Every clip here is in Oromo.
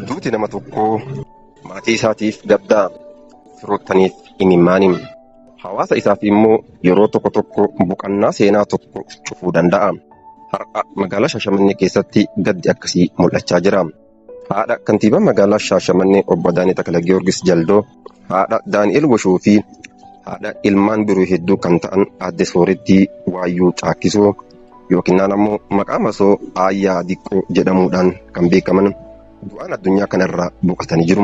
Duuti nama tokkoo maatii isaatiif gaddaa firoottaniif imimmaaniin hawaasa isaaf immoo yeroo tokko tokko boqannaa seenaa tokko cufuu danda'a. Har'a magaalaa Shaashamannee keessatti gaddi akkasii mul'achaa jira. Haadha kantiibaa magaalaa Shaashamannee obbo Adaanee Takla Giyoorgis Jaldoo, haadha Daani'el Woshuu fi haadha ilmaan biroo hedduu kan ta'an aadde Soorettii Waayyuu Caakkisoo yookinnaan ammoo maqaa masoo Aayyaa Diqqoo jedhamuudhaan kan beekaman du'aan addunyaa kanarraa boqatanii jiru.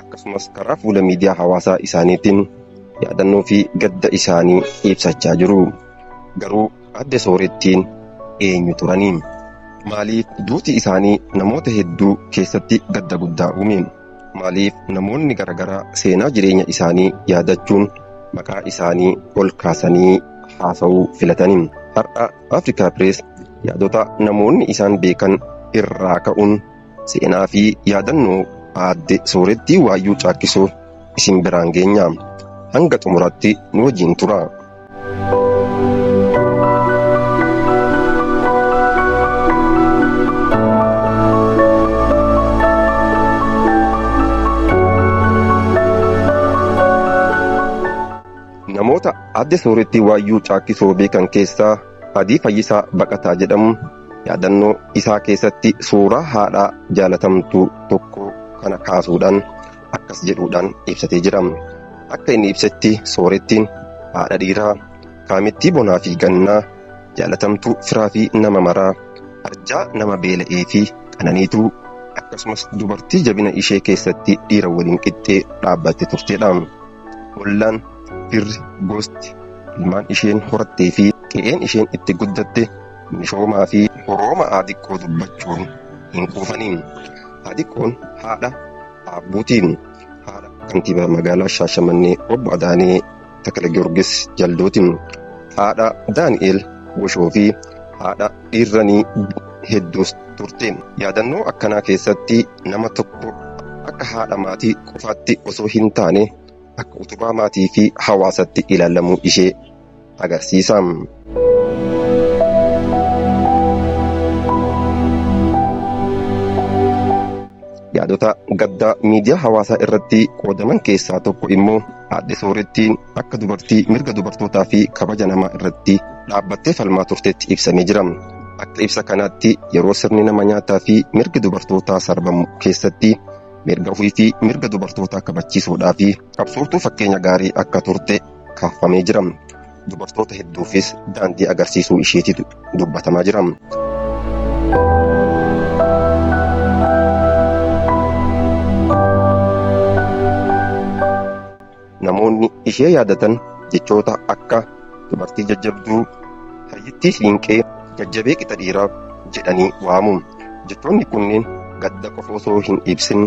akkasumas karaa fuula miidiyaa hawaasaa isaaniitiin yaadannoo fi gadda isaanii ibsachaa jiru. Garuu adde soorettiin eenyu turani? Maaliif duuti isaanii namoota hedduu keessatti gadda guddaa uume? Maaliif namoonni garaagaraa seenaa jireenya isaanii yaadachuun maqaa isaanii ol kaasanii haasa'uu filatani? Har'a Afrikaa Pirees yaadota namoonni isaan beekan irraa ka'uun Seenaa fi yaadannoo Aadde Soorettii Waayyuu Caakkisoo isin biraan geenya. Hanga xumuraatti nu wajjin turaa. Namoota Aadde Soorettii Waayyuu Caakkisoo beekan keessaa Adii Fayyisaa Baqataa jedhamu. Yaadannoo isaa keessatti suuraa haadha jaalatamtuu tokkoo kana kaasuudhaan akkas jedhuudhaan ibsatee jira. Akka inni ibsetti soorettiin haadha dhiiraa kaamittii bonaa fi gannaa, jaalatamtuu firaa fi nama maraa, arjaa nama beela'ee fi qananiituu, akkasumas dubartii jabina ishee keessatti dhiira waliin qixxee dhaabbatte turtedha. Ollaan, firri, gosti, ilmaan isheen horattee fi qe'een isheen itti guddatte Mishooma fi Orooma A Diqqoo dubbachuun hin quufaniin. A Diqqoon haadha Aabbuuti. Haadha Kantiibaa Magaalaa Shaashamannee Obbo Adaanee Takalagiyoorgis Jalduuti. Haadha Daani'eel Goshoo fi haadha dhiirranii hedduus turte. Yaadannoo akkanaa keessatti nama tokko akka haadha maatii qofaatti osoo hin taane akka utubaa maatii fi hawaasatti ilaalamuu ishee agarsiisa. yaadota gaddaa miidiyaa hawaasaa irratti qoodaman keessaa tokko immoo aadde soorettiin akka dubartii mirga dubartootaa fi kabaja namaa irratti dhaabbattee falmaa turtetti ibsamee jira. Akka ibsa kanaatti yeroo sirni nama nyaataa fi mirgi dubartootaa sarbamu keessatti mirga ofii fi mirga dubartootaa kabachiisuudhaa fi qabsooftuu fakkeenya gaarii akka turte kaafamee jira. Dubartoota hedduufis daandii agarsiisuu isheetitu dubbatamaa jira. Namoonni ishee yaadatan jechoota akka dubartii jajjabduu, hayyittii siinqee, jajjabee qixa dhiiraa jedhanii waamu. Jechoonni kunneen gadda qofa osoo hin ibsin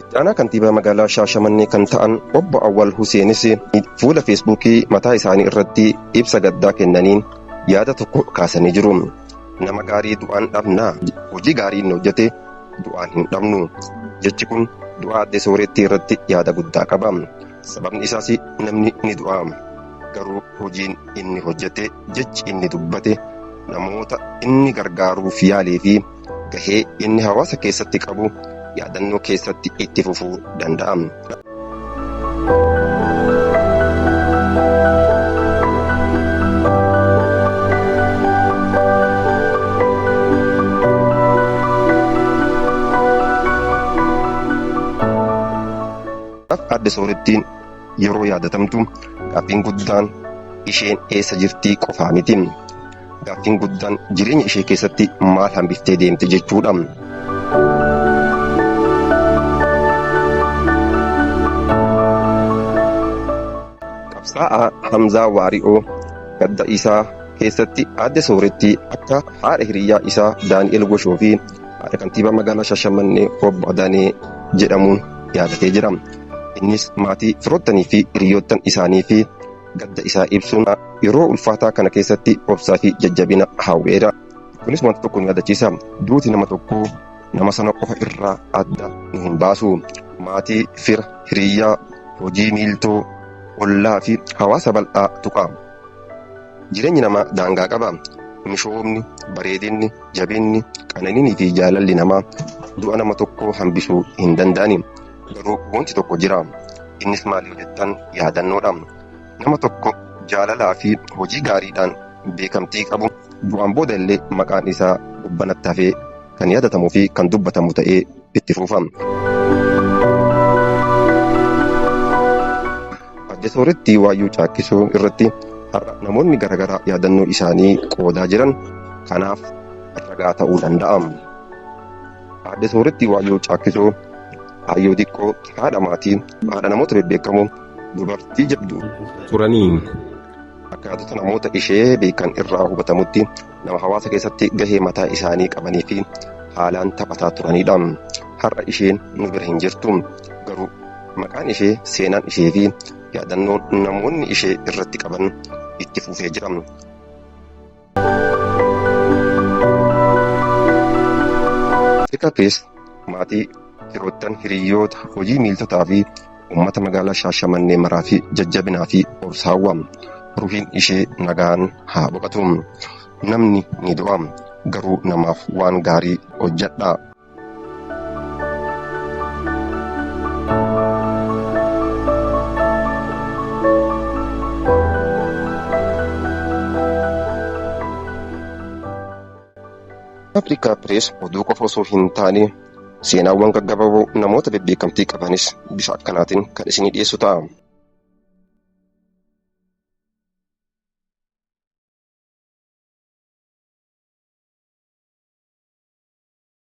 Itti aanaa kantiibaa magaalaa Shaashamannee kan ta'an obbo Awwal Huseenis fuula feesbuukii mataa isaanii irratti ibsa gaddaa kennaniin yaada tokko kaasanii jiru. Nama gaarii du'aan dhabnaa? Hojii gaarii inni hojjete du'aan hin dhabnu. Jechi kun du'aa addee soorettii irratti yaada guddaa qaba. Sababni isaas namni ni du'a. Garuu hojiin inni hojjete, jechi inni dubbate, namoota inni gargaaruuf yaalee fi gahee inni hawaasa keessatti qabu yaadannoo keessatti itti fufuu danda'a. Aadde Soorettiin yeroo yaadatamtu gaaffiin guddaan isheen eessa jirtii qofaa miti. Gaaffiin guddaan jireenya ishee keessatti maal hambiftee deemte jechuudha. Qabsaa'aa Hamzaa Waari'oo gadda isaa keessatti aadde sooretti akka haadha hiriyaa isaa Daani'el Goshoo fi haadha kantiibaa magaalaa Shashamannee obbo Adaanee jedhamuun yaadatee jira. Innis maatii firoottanii fi hiriyoottan isaanii fi Gadda isaa ibsuun yeroo ulfaataa kana keessatti obsaa fi jajjabina hawweera. Kunis wanta tokko nu yaadachiisa. Duuti nama tokkoo nama sana qofa irraa adda nu hin baasu. Maatii, fira, hiriyyaa, hojii miiltoo, ollaa fi hawaasa bal'aa tuqa. Jireenyi namaa daangaa qaba. Mishoomni, bareedinni, jabinni, qananiinii fi jaalalli namaa du'a nama tokkoo hambisuu hin danda'ani. Garuu wanti tokko jira. Innis maal yoo jettan yaadannoodha. Nama tokko jaalalaa fi hojii gaariidhaan beekamtii qabu du'aan booda illee maqaan isaa gubbanatti hafee kan yaadatamuu fi kan dubbatamu ta'ee itti fufa. Adde Sooretti waayyuu caakkisuu irratti har'a namoonni garaagaraa yaadannoo isaanii qoodaa jiran kanaaf ragaa ta'uu danda'a. Aadde Sooretti Waayyoo Caakkisoo, Aayyoo Diqqoo, haadha maatii, haadha namoota bebbeekamoo, dubartii jabduu. turanii. Akkaatota namoota ishee beekan irraa hubatamutti nama hawaasa keessatti gahee mataa isaanii qabanii fi haalaan taphataa turanidha. Har'a isheen nu bira hin jirtu. Garuu maqaan ishee, seenaan ishee fi yaadannoon namoonni ishee irratti qaban itti fufee jira. Xiqqa keessa maatii firoottan hiriyoota hojii miiltotaa fi uummata magaalaa Shaashamannee maraa fi jajjabinaa fi obsa hawwa. Ruhiin ishee nagaan haa boqatu. Namni ni du'a garuu namaaf waan gaarii hojjedhaa. Afrikaa Pirees oduu qofa osoo hin taane seenaawwan gaggabaaboo namoota bebbeekamtii qabanis bifa akkanaatiin kan isinii dhiyeessu ta'a.